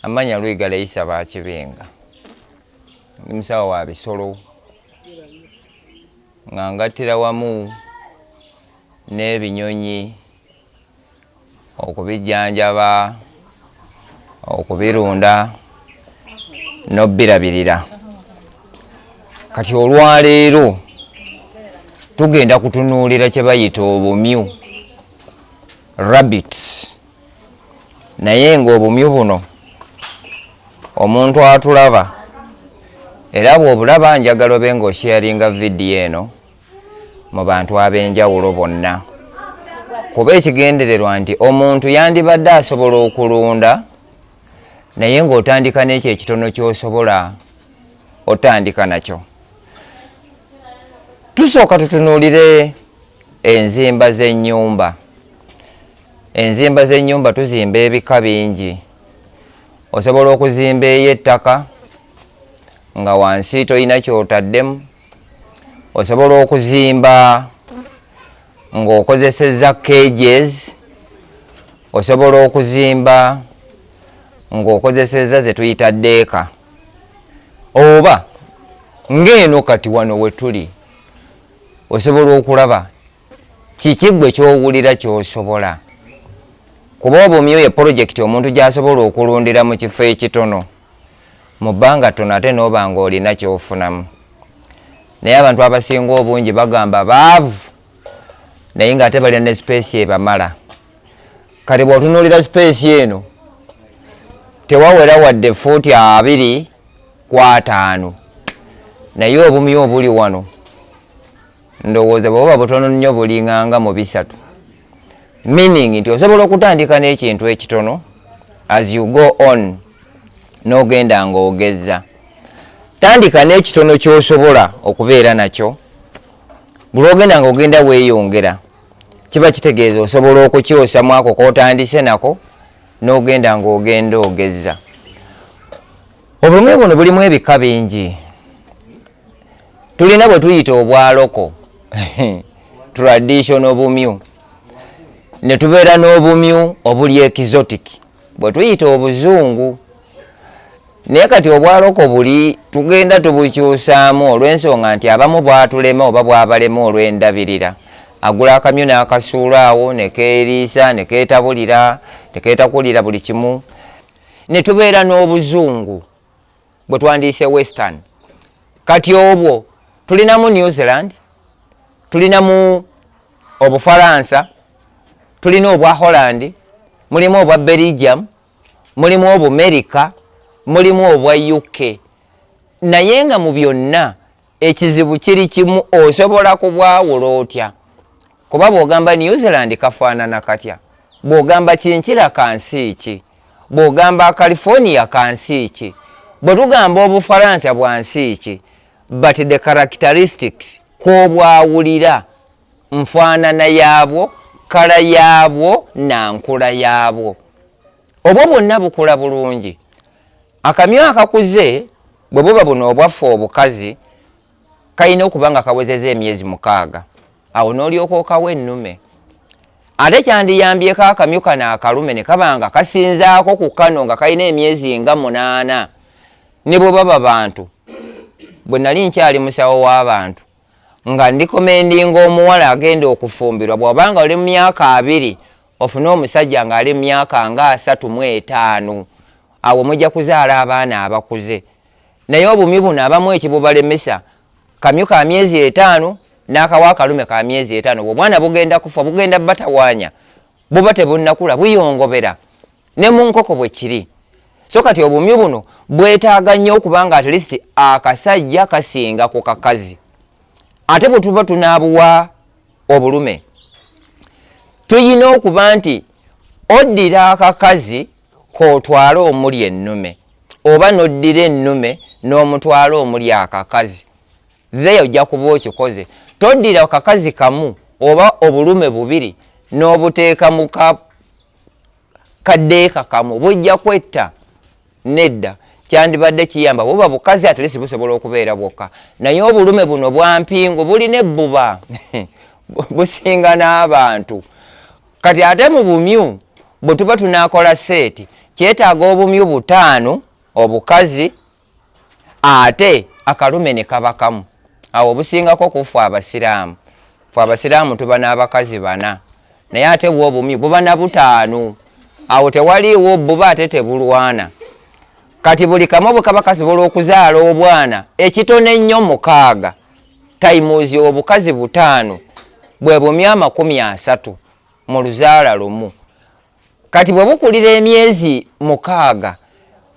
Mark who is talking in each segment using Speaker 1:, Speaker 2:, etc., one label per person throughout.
Speaker 1: Amanya Lwiga Leisa Bakibenga ndi musawo wa bisolo nga ngattira wamu n'ebinyonyi okubijjanjaba okubirunda n'obbirabirira kati olwaleero tugenda kutunuulira kye bayita obumyu rabbits naye ng'obumyu buno omuntu atulaba era bw'obulaba njagala obe ng'osheyaringa vidiyo eno mu bantu ab'enjawulo bonna kuba ekigendererwa nti omuntu yandibadde asobola okulunda naye ng'otandika n'ekyo ekitono ky'osobola otandika nakyo tusooka tutunuulire enzimba z'ennyumba Enzimba z'ennyumba tuzimba ebika bingi. Osobola okuzimba ey'ettaka nga wansi tolina kyotaddemu. Osobola okuzimba ng'okozesezza cages. Osobola okuzimba ng'okozesezza ze tuyita deeka oba ng'eno kati wano we tuli osobola okulaba kiki gwe kyowulira kyosobola kuba obumyu ye polojekiti omuntu gyasobola okulundira mu kifo ekitono mu bbanga tono ate nooba nga olina kyofunamu naye abantu abasinga obungi bagamba baavu naye nga ate balina ne sipeesi ebamala kati bwotunuulira sipeesi eno tewawera wadde fuuti abiri ku ataano naye obumyu obuli wano ndowooza bwebuba butono nnyo bulinganga mu bisatu meaning nti osobola okutandika n'ekintu ekitono as you go on n'ogenda ng'ogezza tandika n'ekitono ky'osobola okubeera nakyo bulwogenda nga ogenda weeyongera kiba kitegeeza osobola okukyosa mwako kotandise nako n'ogenda ng'ogenda ogezza obulumi buno bulimu ebika bingi tulina bwe tuyita obwaloko traditional bumyu ne tubeera n'obumyu obuli exotic bwe tuyita obuzungu naye kati obwaloko buli tugenda tubukyusaamu olw'ensonga nti abamu bwatulema oba bwabalema olw'endabirira agula akamyu n'akasuula awo ne keeriisa ne keetabulira ne keetakulira buli kimu ne tubeera n'obuzungu bwe twandiyise western kati obwo tulinamu new zealand tulinamu obufaransa tulina obwa holland mulimu obwa belgium mulimu obumerika mulimu obwa uk naye nga mu byonna ekizibu kiri kimu osobola kubwawula otya kuba bwogamba new zealand kafaanana katya bwogamba kinkira kansi ki bwogamba california kansi ki bwe tugamba obufaransa bwansi ki but the characteristics kwobwawulira nfaanana yaabwo kala yaabwo nankula yaabwo obwo bwonna bukula bulungi akamyu akakuze bwe buba buno obwaffe obukazi kalina okuba nga kawezeza emyezi mukaaga awo n'olyoka okawo ennume ate kyandiyambyeko akamyu kano akalume ne kaba nga kasinzaako ku kano nga kalina emyezi nga munaana ne bwe baba bantu bwe nali nkyali musawo w'abantu nga ndikomendinga omuwala agenda okufumbirwa bw'obanga oli mu myaka abiri ofune omusajja ng'ali myaka nga asatu mu etaano awo mujja kuzaala abaana abakuze naye obumi buno abamu ekibubalemesa kamyu ka myezi etaano n'akawa akalume ka myezi etaano bwobwana bugenda kufa bugenda batawaanya buba tebunnakula buyongobera ne mu nkoko bwe kiri so kati obumi buno bwetaaga nnyo okuba nga atleast akasajja kasinga ku kakazi ate bwe tuba tunaabuwa obulume tuyina okuba nti oddira akakazi kotwala omuli ennume oba noddira ennume n'omutwala omuli akakazi the ojja kuba okikoze toddira akakazi kamu oba obulume bubiri n'obuteeka mu kaddeekakamu bujja kwetta nedda kyandibadde kiyamba buba bukazi atlesi busobola okubeera bwokka naye obulume buno bwampingu bulina ebbuba businga n'abantu kati ate mu bumyu bwe tuba tunakola seeti kyetaaga obumyu butaano obukazi ate akalume ne kabakamu awo obusingako kufu abasiraamu fe abasiraamu tuba n'abakazi bana naye ate bwa obumyu buba na butaano awo tewaliiwo buba ate tebulwana kati buli kamu bwekaba kasobola okuzaala obwana ekitono ennyo mukaaga taimuzi obukazi butaano bwe bumyu amakumi asatu mu luzaala lumu kati bwe bukulira emyezi mukaaga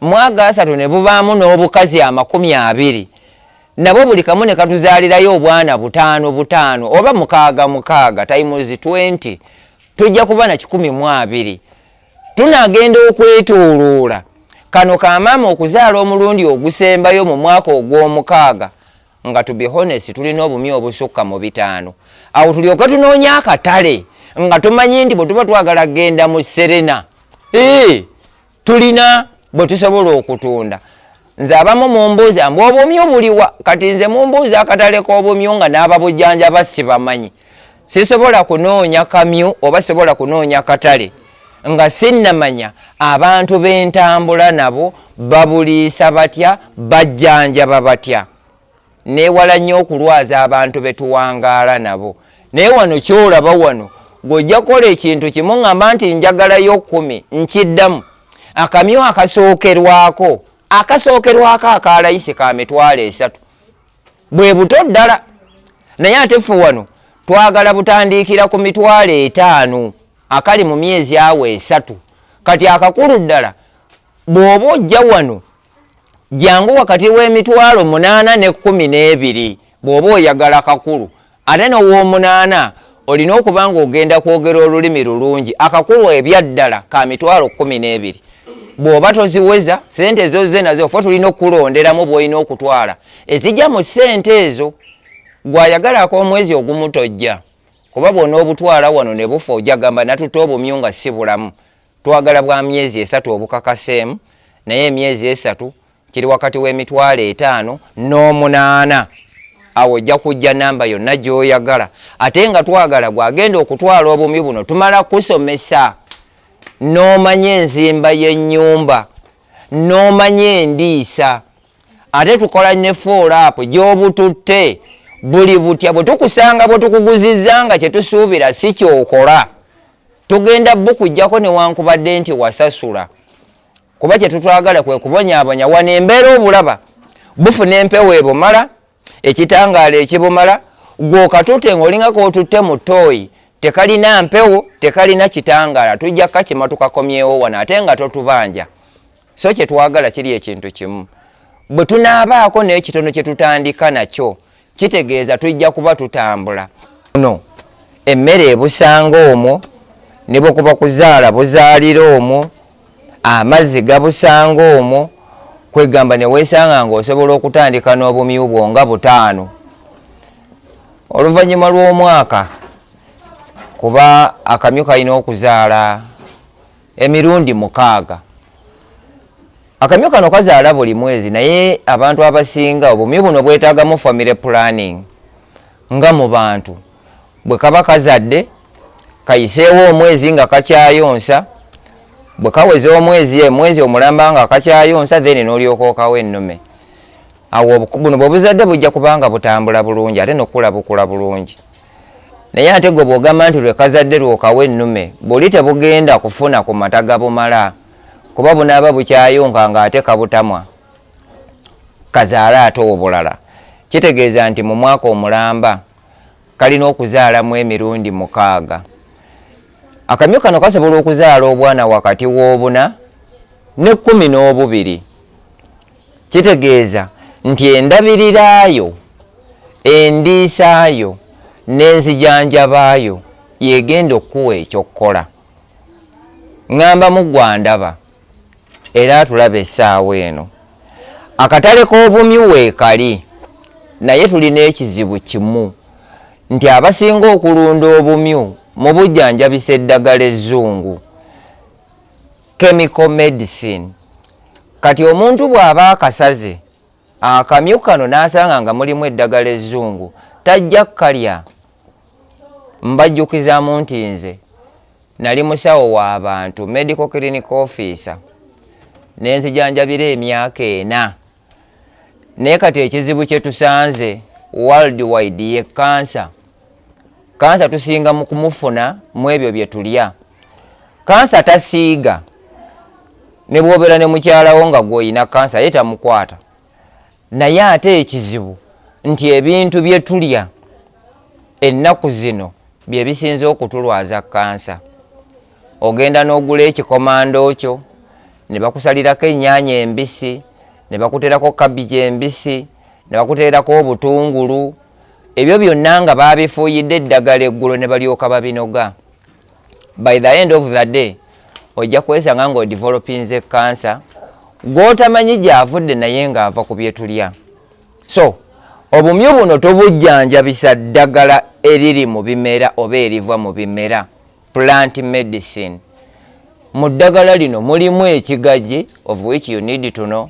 Speaker 1: mwaga asatu ne bubaamu n'obukazi amakumi abiri nabo buli kamu ne katuzaalirayo obwana butaano butaano oba mukaaga mukaaga times 20 tujja kuba na kikumi mu abiri tunagenda okwetooloola kano ka maama okuzaala omulundi ogusembayo mu mwaka ogw'omukaaga nga to be honest tulina obumi obusukka mu bitaano awo tulyoke tunoonya akatale nga tumanyi nti bwe tuba twagala kgenda mu serena ee tulina bwe tusobola okutunda nze abamu mumbuuza mbu obumyu buliwa kati nze mumbuuza akatale k'obumyu nga n'ababujjanja basibamanyi sisobola kunoonya kamyu oba sisobola kunoonya katale nga sinnamanya abantu bentambula nabo babuliisa batya bajjanjaba batya newala nnyo okulwaza abantu betuwangaala nabo naye wano kyolaba wano gweojja kukola ekintu kimu ngamba nti njagalayo kumi nkiddamu akamyu akasookerwako akasookerwako akalayisi ka mitwalo esatu bwe buto ddala naye ate ffe wano twagala butandiikira ku mitwalo etaano akali mu myezi awo esatu kati akakulu ddala bw'oba ojja wano jangu wakati w'emitwalo munaana ne kkumi n'ebiri bw'oba oyagala kakulu ate nowoomunaana olina okuba nga ogenda kwogera olulimi lulungi akakulwa ebyaddala ka mitwalo kumi n'ebiri bw'oba toziweza sente ezo ze nazo fe tulina okukulonderamu bwolina okutwala ezijja mu sente ezo gwayagalako omwezi ogumutojja kuba bwona obutwala wano ne bufa ojagamba natutte obumyu nga si bulamu twagala bwa myezi esatu obukakaseemu naye emyezi esatu kiri wakati w'emitwalo etaano n'omunaana awo ojja kujja namba yonna gyoyagala ate nga twagala gwagenda okutwala obumyu buno tumala kusomesa n'omanya enzimba y'ennyumba n'omanya endiisa ate tukola ne foolaapu gy'obututte buli butya bwe tukusanga bwe tukuguzizza nga kye tusuubira si kyokola tugenda bukujjako newankubadde nti wasasula kuba kyetutwagala kwe kubonyabonya wano embeera obulaba bufuna empewo ebumala ekitangaala ekibumala gwokatute ngaolingako otutte mu tooyi tekalina mpewo tekalina kitangaala tujja kakima tukakomyewo wano ate nga totubanja so kyetwagala kiri ekintu kimu bwe tunaabaako nekitono kyetutandika nakyo kitegeeza tujja kuba tutambula no emmere ebusanga omwo ne bwe kuba kuzaala buzaalira omwo amazzi gabusanga omwo kwegamba ne weesanga ng'osobola okutandika n'obumyu bwo nga butaano oluvannyuma lw'omwaka kuba akamyu kalina okuzaala emirundi mukaaga akamyu kano kazaala buli mwezi naye abantu abasinga obumyu buno bwetagamu family planning nga mu bantu bwe kaba kazadde kayiseewo omwezi nga kakyayonsa bwe kaweza omwezi emwezi omulamba nga kakyayonsa then n'olyoka okawo ennume awo buno bwebuzadde bujja kubanga butambula bulungi ate nokukula bukula bulungi Naye ate gwe bwogamba nti lwekazadde lwokawa ennume buli tebugenda kufuna ku mata gabumala kuba bunaaba bukyayonka nga ate kabutamwa kazaale ate obulala kitegeeza nti mu mwaka omulamba kalina okuzaalamu emirundi mukaaga. Akamyu kano kasobola okuzaala obwana wakati w'obuna ne kkumi n'obubiri. kitegeeza nti endabirirayo endiisaayo n'enzijanjabaayo yegenda okukuwa ekyokkola ŋŋamba mu gwandaba era atulaba essaawa eno akatale k'obumyi weekali naye tulina ekizibu kimu nti abasinga okulunda obumyu mu bujjanjabisa eddagala ezzungu chemical medicine kati omuntu bw'aba akasaze akamyu kano n'asanga nga mulimu eddagala ezzungu tajja kukalya mbajjukizamu nti nze nali musawo w'abantu medical clinic officer ne nzijanjabira emyaka ena naye kati ekizibu kyetusanze world wide ye kansa kansa tusinga mu kumufuna mu ebyo bye tulya kansa tasiiga ne bwobeera ne mukyalawo nga gwolina kansa ye tamukwata naye ate ekizibu nti ebintu bye tulya ennaku zino bye bisinze okutulwaza kansa ogenda n'ogula ekikomando kyo ne bakusalirako ennyaanya embisi ne bakuteerako kabiji embisi ne bakuteerako obutungulu ebyo byonna nga baabifuuyidde eddagala eggulo ne balyoka babinoga by the end of the day ojja kwesanga nga odevelopinze kansa gw'otamanyi gyavudde naye ng'ava ku byetulya so obumyu buno tobujjanjabisa ddagala eriri mu bimera oba eriva mu bimera plant medicine mu ddagala lino mulimu ekigaji of which you need to know